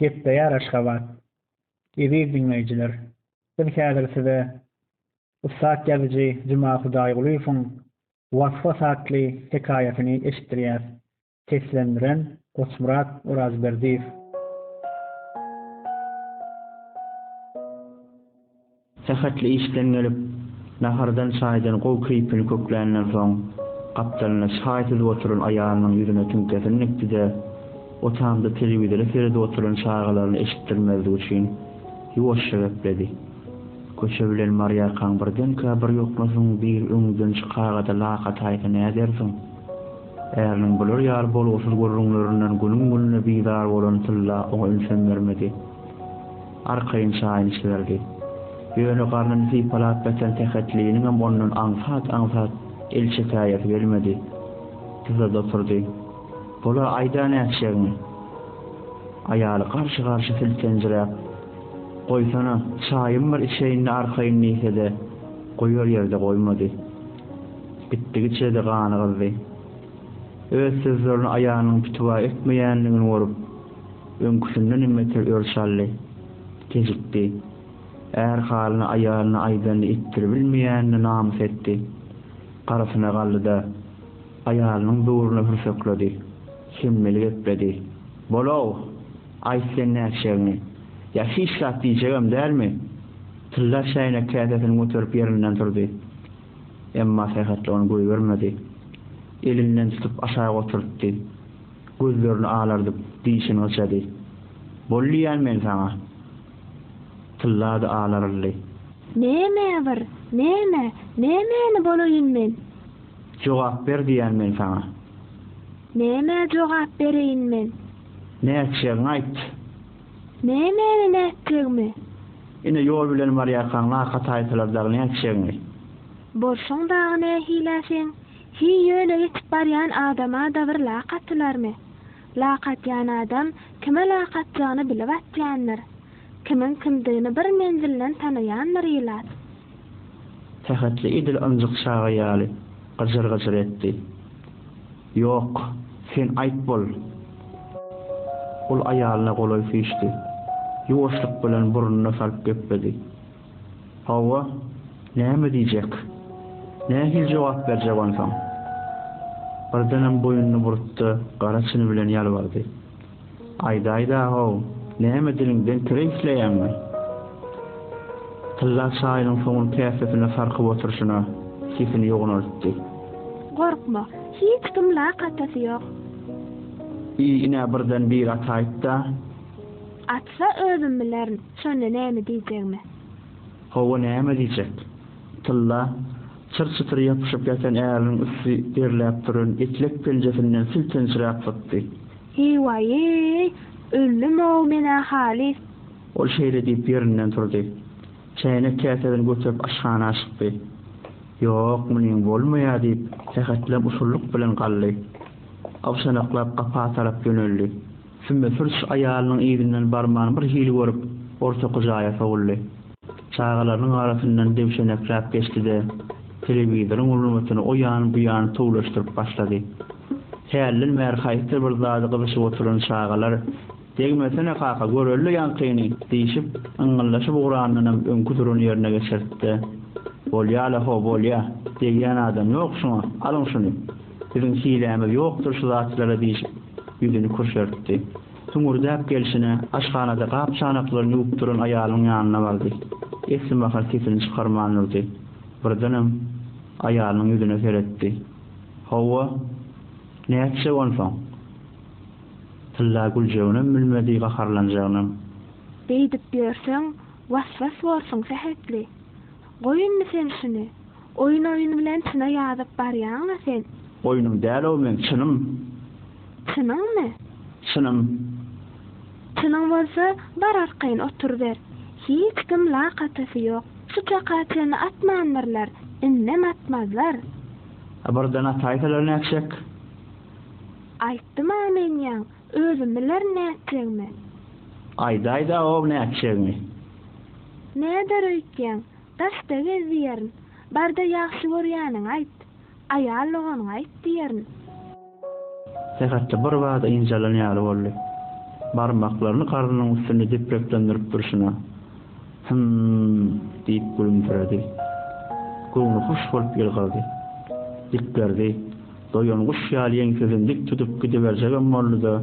Gepleýär Aşgabat. Eziz diňleýjiler, biz häzir size ussat ýazyjy Juma Hudaýgulyýewiň Was-was atly hekaýasyny eşitdirýäs. Seslendiren, Goçmyrat Orazberdiýew. Sähetli işden gelip, nahardan-çaýdan gowy keýpini kökländen soň, gapdalynda çaý süzüp oturan aýalynyň ýüzüne tiňkesini dikdi-de, otagynda telewizora seredip oturan çagalaryna eşitdirmezlik üçin, ýuwaşja gepledi. Köçe bilen barýarkaň birdenkä bir ýoklasyň, bir öňüňden çykaga-da lak ataýsa nädersiň? Äriniň bular ýaly bolgusyz gürrüňlerinden günüň-gününe bizar bolan Tylla oňa ünsem bermedi. Arkaýyn şaýyny çyzardy. Ýöne garnyny sypalap ýatan Sähetliniňem ondan aňsat-aňsat el çekäýesi gelmedi. Dyzada oturdy. Bol-a, aýda nätjegiňi! Aýaly garşy-garşy siltenjiräp, Goýsana, çaýym bir içeýin-de arkaýyn diýse-de, goýar ýerde goýmady. Gitdigiçe-de gany gyzdy. Öz sözlerini aýalynyň pitiwa etmeýändigini görüp. Öňküsinden hem beter ör çaldy. Kejikdi. Är halyny aýalyna aýdanyny etdiribilmeýänine namys etdi. Garasyna galdy-da, aýalynyň böwrüne hürsekledi. Hemmeli gepledi. Bol-ow! Aýt sen nätjegini. Ýa hiç zat diýjegem dälmi? Tylla çäýnek käsesini göterip ýerinden turdy. Emma Sähetli ony goýbermedi. Elinden tutup aşak oturtdy. Gözlerini alardyp, dişini gyşady. Bol diýýän men saňa! Tyllady, alaryldy. Näme bir, näme, nämäni bolaýyn men? Jogap ber diýýän men saňa! Nämä jogap bereýin men? Nätjegiňi aýt! Nämäni nätjegimi? Ine, ýol bilen barýarkaň laka taýsalar dagy nätjegiňi? Bolşuň dagy nähilä seň? Hiý ýöne geçip barýan adama-da bir lak atylarmy? Lak atýan adam kime lak atjagyny bilip atýandyr. Kimiň kimdigini bir menzilden tanaýandyr ilat. Sähetli edil ynjyk çaga ýaly gyjyr-gyjyr etdi. Ýok, sen aýt bol! Ol aýalyna golaý süýşdi. Ýuwaşlyk bilen burnuna salyp gepledi. Hawa, näme diýjek? Nähili jogap berjek onsoň? Birdenem boýnuny burutdy, gara çyny bilen ýalbardy. Aýdaýda-how, näme diliňden kir isleýäňmi? Tylla çaýynyň soňuny käsesine sarkyp oturyşyna sesini ýognaltdy. Gorkma, hiç kim lak atasy ýok. Eý, ine birden biri ataýyp-da. Atsa özüm bilerin, şonda näme diýjegimi. Hawa näme diýjek. Tylla çyr-çytyr ýapyşyp ýatan äriniň üsti derläp duran etlek penjesinden siltenjiräp sypdy. Heý-waý-eý, öldüm-ow men-ä halys. Ol şeýle diýip ýerinden turdy. Çäýnek-käsesini göterip aşhana çykdy. Ýok, munyň bolmaýar diýip, sähetleň usullyk bilen galdy. Awşanaklap gapa tarap ýöneldi. Sümme Pürs aýalynyň yzyndan barman bir hili görüp, ortaky jaýa sowuldy. Çagalarynyň arasyndan döwşenekläp geçdi-de, telewizoryň ulnybytyny o ýan, bu ýan tüwleşdirip başlady. Hälden bäri haýsydyr bir zady gyzyşyp oturan çagalar, Degmesene, kaka, göreli-le ýaňkyny! diýşip, yňňyldaşyp ugranynam öňki duran ýerine geçirtdi. Bolýa-la, ho, bolýa. Degýän adam ýok şuňa. Alyň şuny. Biziň hilämiz ýokdur şu zatlara diýşip, Ýüzüni kürşertdi. Hüňürdäp gelşine, aşhanada gap-çanaklaryny ýuwup duran aýalyň ýanyna bardy. Esli mahal sesini çykarman durdy. Birdenem, aýalynyň ýüzüne seretdi. Hawa, nätjek onsoň? Tylla güljeginem bilmedi, gaharlanjagynam. Beýdip ýörseň, was-was borsuň, sähetli. Goý indi sen şuny. Oýun oýun bilen çyna ýazyp barýaňa sen. Oýnum däl-ow meň çynym. Çynyňmy? Çynym. Çynyň bolsa bar arkaýyn oturyber. Hiç kim lak atasy ýok. Şu çaka çenli atmandyrlar, indem atmazlar. A birden ataýsalar nätjek? Aýtdym-a men ýaň. Özüm bilerin nätjegimi. Aýdaýda-ow nätjegimi. Näder öýtýäň, daşda gez diýerin. Barda ýagşy görýäniňi aýt. Aýal doganyňa aýt diýerin. Sähetde birbada ynjalan ýaly boldy. Barmaklaryny garnynyň üstünde depreklendirip durşuna, Hym-m-m! diýip gülümsiredi. Göwni hoş bolup ýylgyrdy. Diklerdi. Doýan guş ýaly ýeňsesini dik tutup gidiberjegem boldy-da,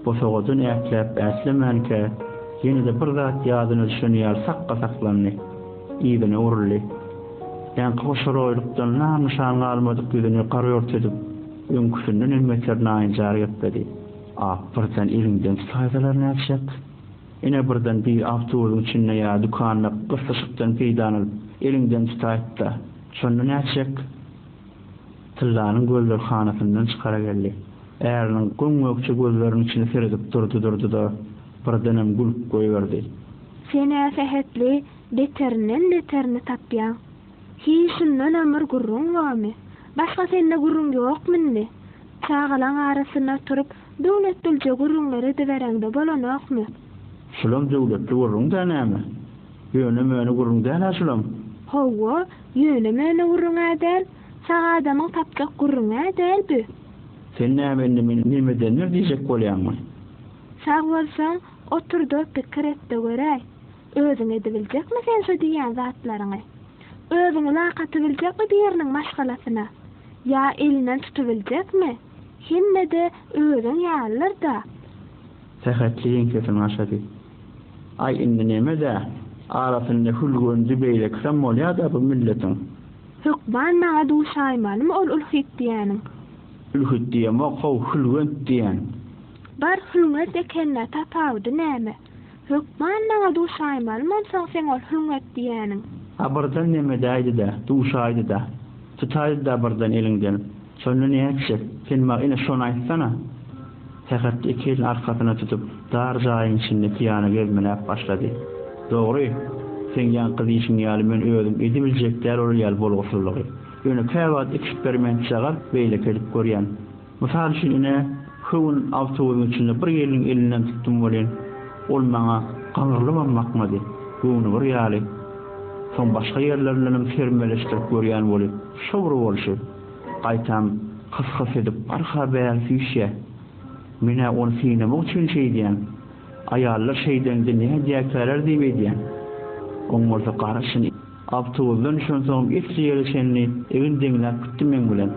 bosagadan ätläp-ätlemänkä, ýene-de bir zat ýadyna düşen ýaly sakga saklandy. Yzyna uruldy. Ýaňky hoşoroýlukdan nam-nyşan galmadyk ýüzüni garýurt edip, öňküsinden hem beter naýynjar gepledi. Ap birden eliňden tutaýsalar nätjek? Ine, birden biri awtobusyň içinde ýa dükanda gyslyşykdan peýdalanyp, eliňden tutaýyp-da, şonda nätjek? Tyllanyň gözleri hanasyndan çykara geldi. Äriniň göm-gökje gözleriniň içine seredip durdy-durdy-da, birdenem gülüp goýberdi. Sen-ä sähetli beterinden beterini tapýaň. Hiý, şundanam bir gürrüň bormy? Başga sende gürrüň ýokmy indi? Çagalaň arasyny oturyp, döwletdilje gürrüňler edibereňde bolanokmy? Şulam döwletli gürrüň-dä näme? Ýöne-möne gürrüň däl-ä şulam. Hawa, ýöne-möne gürrüň-ä däl. Sag adamyň tapjak gürrüň-ä däl bu. Sen näme indi meni nemedendir diýjek bolýaňmy? Sag bolsaň, otur-da pikir et-de göräý. Özüň edibiljekmi sen şo diýýän zatlaryňy? Özüň ulak atybiljekmi biriniň maşgalasyna? Ýa elinden tutubiljekmi? Hemme-de özüň ýalydyr-da. Sähetli ýeňsesini gaşady. Aý indi nemedä arasynda hülgünji beýlekisem bolýada bu milletiň. Hökman maňa duşaýmalymy ol ülhit diýäniň. Ülhit diýemok how hülgünt diýän. Bar hülgünt ekenina tapawudy näme. Hökman maňa duşaýmalymy onsoň seň ol hülgünt diýäniň. A birden nemedäýdidä duşaýdyda. Tutaýdyda birden eliňden. Şonda nätjek? Sen maňa ine şony aýtsana! Sähet iki elini arkasyna tutup, dar jaýyň içinde pyýana gezmeläp başlady. Dogry, seň ýaňky diýşiň ýaly men özüm edibiljek däl ol ýaly bolgusyzlygy. Ýöne käwagt iki şperment çagar beýleki edip görýän. Mysal üçin ine, şu gün awtobusyň içinde bir gelniň elinden tutdum welin, ol maňa gaňyrlybam bakmady, göwni bir ýaly. Soň başga ýerlerindenem termeleşdirip görýän weli, şo bir bolşy. Gaýtam, hys-hys edip arka bäri süýşýä. Men-ä ony synamak üçin şeýdýän. Aýallar şeýdende nädýäkäler diýip edýän. Oňarsa garaşyn. Awtobusdan düşensoňam esli ýere çenli egin deňläp gitdi meň bilen.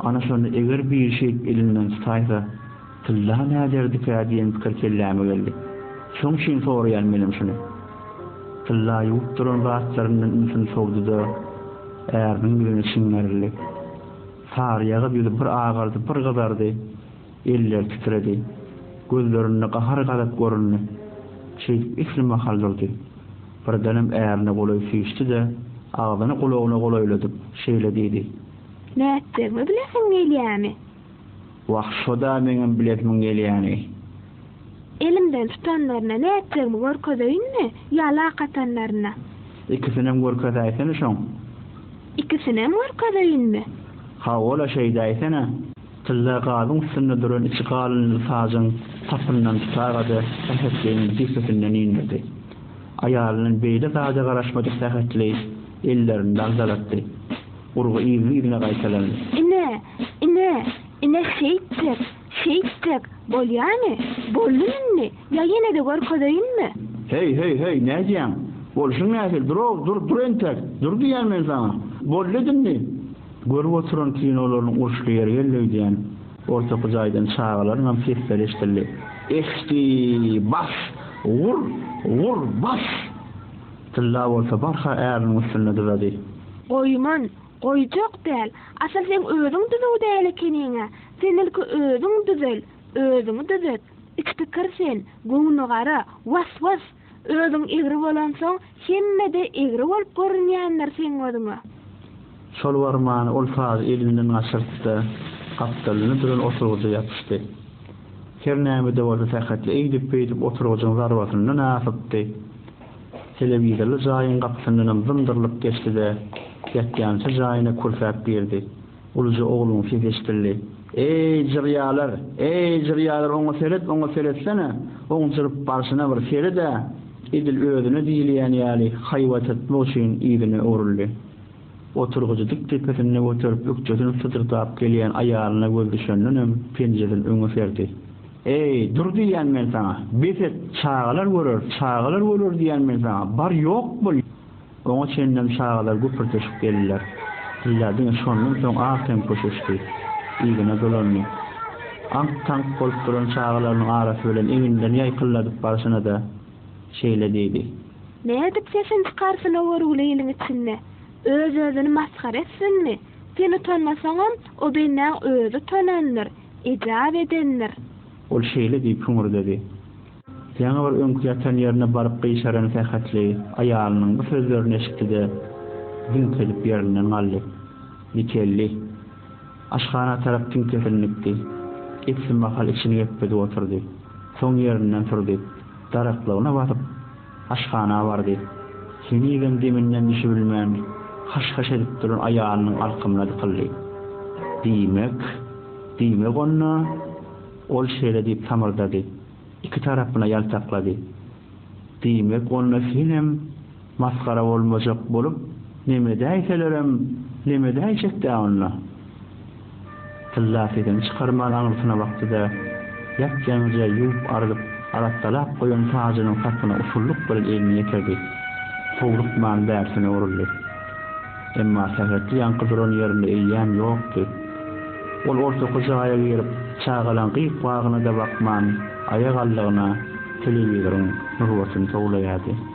Ana şonda eger biri şeýdip elinden tutaýsa. Tylla näderdikä diýen pikir kelläme geldi. Şoň üçin soraýan menem şuny. Tylla ýuwup duran zatlaryndan ünsüni sowdy-da, äriniň ýüzüne çiňerildi. Saryýagyz ýüzi bir agardy, bir gyzardy, elleri titredi. Gözlerinde gahar-gazap göründi. Şeýdip esli mahal durdy. Birdenem ärine golaý süýşdi-de, agzyny gulagyna golaýladyp, şeýle diýdi. Nätjegimi bileseň gelýämi? Wah şoda meňem bilesimin gelýäni. Elimden tutanlaryna nätjegimi görkezeýinmi ýa lak atanlaryna. Ikisinem görkezäýsene şoň. Ikisinem görkezeýinmi. Hawa-la şeýdäýsene. Tylla gazyň üstünde duran içi galynly sazyn sapyndan tuta-da Sähetligiň jübüsinden indirdi. Aýalyndan beýle zada garaşmadyk Sähetli ellerini dagzalatdy. Urgy yzly-yzyna gaýtalandy. Ine, ine, ine şeýtjek, şeýtjek, bolýamy? Boldumy indi, ýa ýene-de görkezeýinmi? Heý, heý, heý, nädýäň? Bolşuň nähili? Dur-ow, dur, dur entek! Dur diýýän men saňa! Boldy-da indi! Görüp oturan kinolarynyň uruşly ýeri geldi öýdýän. Ortaky jaýdan çagalaryňam sesleri eşidildi. Ehhii, bas! Gur, gur, bas! Tylla bolsa barha äriniň üstünde duzady. Goýman, goýjak däl. Asyl seň özüň düzüw däl ekeniň-ä. Sen ilki özüň düzel, özüňi düzet. Itpikir sen, göwnügara, was-was! Özüň egri bolansoň, hemme-de egri bolup görünýändir seň özüňe. Şol barmany ol sazy elinden gaçyryp-da, gapdalynda duran oturgyja ýapyşdy. Her näme-de bolsa sähetli eýdip-beýdip oturgyjyň zarbasyndan asypdy. Telewizorly jaýyň gapysyndanam zymdyrylyp geçdi-de, ýatýança jaýyna kürsäp girdi. Uluja ogluň sesi eşidildi. Eý, jyrýalar! Eý, jyrýalar, oňa seret, oňa seretsene! Oň jyryp barşyna bir sered-ä! Edil özüne diýilýän ýaly haýbat etmek üçin yzyna öwrüldi. Oturgyjy dik depesinde göterip ökjesini syjyrdap gelýän aýalyna göz düşendenem penjeden öňe serdi. Eý, dur diýýän men saňa, bes et, çagalar görer, çagalar görer diýýän men saňa, bar ýok bol! Oňa çenlem çagalar güpürdeşip geldiler. Ýa diňe şondan soň az tempo çüşdi. Yzyna dolandy. Aňk-taňk bolup duran çagalarynyň arasy bilen eginden ýaýkyldadyp barşyna-da, şeýle diýdi. Nädip sesini çykarsyn o görgüli iliň içinde? Öz-özüni masgara etsinmi? Sen utanmasaňam, o bendäň özi utanandyr. ejap edendir. Ol şeýle diýip hüňürdedi. Ýaňy bir öňki ýatan ýerine baryp gyşaran sähetli aýalynyň bu sözlerini eşitdi-de, ziňk edip ýerinden galdy. Dikeldi. Aşhana tarap tiňkesini dikdi. Epsin mahal içini gepledip oturdy. Soň ýerinden turdy. Daraklygyna basyp. Aşhana bardy. Henizem deminden düşübilmän, haş-haş edip duran aýalynyň arkamyna dykyldy. Diýmek, diýmek onda, ol şeýle diýip samyrdady, iki tarapyna ýaltaklady. Diýmek onda senem masgara bolmajak bolup, lemedäýselerem lemedäýjek-dä onda. Tylla sesini çykarman aňyrsyna bakdy-da, ýap-ýaňyja ýuwup-ardyp, arassalap goýan sajynyň sapyna usullyk bilen elini ýetirdi. Howlukman bärsine uruldy. Emma sähetli ýaňky duran ýerinde eýýäm ýokdy. Ol ortaky jaýa girip, çagalaň gyk-wagyna-da bakman, aýagallygyna telewizoryň nurbatyny towlaýardy.